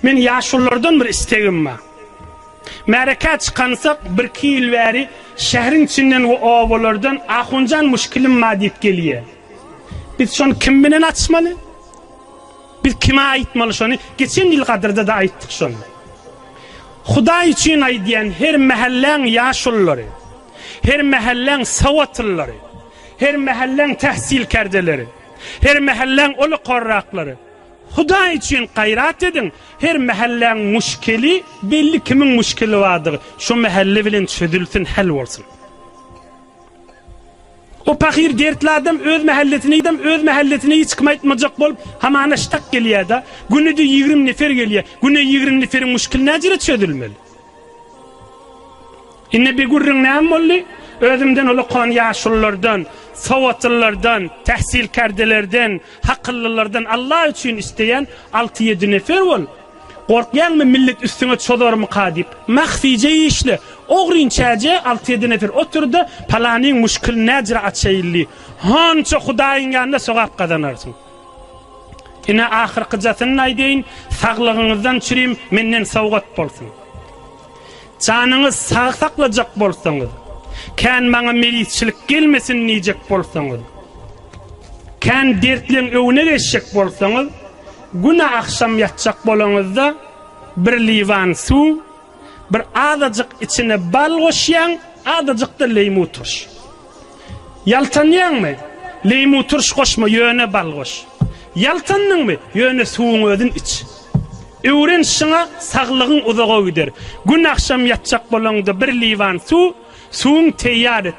Men ýaşulylardan bir istegim bar. Märekä çykansak birki ýyl bäri şähriň içinden we obalardan Ahunjan muşkilim bar diýip gelýä. Biz şony kim bilen açmaly? Biz kime aýtmaly şony? Geçen ýyl gadyrda-da aýtdyk şony. Hudaý üçin aýdýan her mähelläň ýaşulylary, her mähelläň sowatylylary, her mähelläň tähsilkärdeleri, her mähelläň ol okarraklary Hudaý üçin gaýrat ediň, her mähelläň muşkeli belli kimiň muşkeli bardygy şo mähelle bilen çözülsin häl bolsun. O pahyr dertli adam öz mähellesine idem öz mähellesine hiç kim aýtmajak bolup hamana ştak gelýäda günüde ýigrim nefer gelýä güne ýigrim neferiň muşkeli näjere çözülmeli. Indi bir gürrüň näme boldy? Özümden uly kon ýaşululardan, sowatlylardan, tähsilkärdelerden, hakyllylardan Allah üçin isleýän alty-ýedi nefer bol. Gorkýaňmy millet üstüňe çozarmyka diýip. Mahfije işle. Ogrynçäje alty-ýedi nefer otur-da, palanyň muşkylyny näjra açaýyl diý. Hança Hudaýyň ýanynda sogap gazanarsyň. Ine, ahyrkyjasyny-da aýdaýyn, saglygyňyzdan çürim menden sowgat bolsun. Janyňyzy sag saklajak bolsaňyz, kän maňa meýlisçilik gelmesin diýjek bolsaňyz, kän dertleň öňüne geçjek bolsaňyz, güne agşam ýatjak bolaňyzda bir liwan suw, Bir azajyk içine bal goşýaň, azajykda leýmu turş. Ýaltanýaňmy? Leýmu turş goşma, ýöne bal goş. Ýaltandyňmy? Ýöne suwuň özün iç. Öwren şyňa saglygyň uzaga gider. Gün agşam ýatjak bolaňda bir liwan suw, suwuň teýýar et.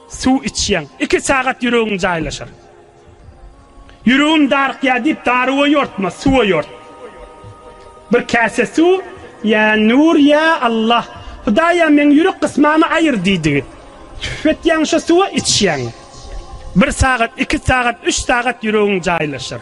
Suw içýäň, iki sagat ýüregiň jaýlaşar. Ýüregim darykýar diýip darywa ýortma, suwa ýort. Bir käse suw, Ýa Nur, ýa Allah, Hudaýa meň ýürek gysmamy aýyr diýdigi. Tüp etýäň şo suwa, içýäň. Bir sagat, iki sagat, üç sagat ýüregiň jaýlaşar.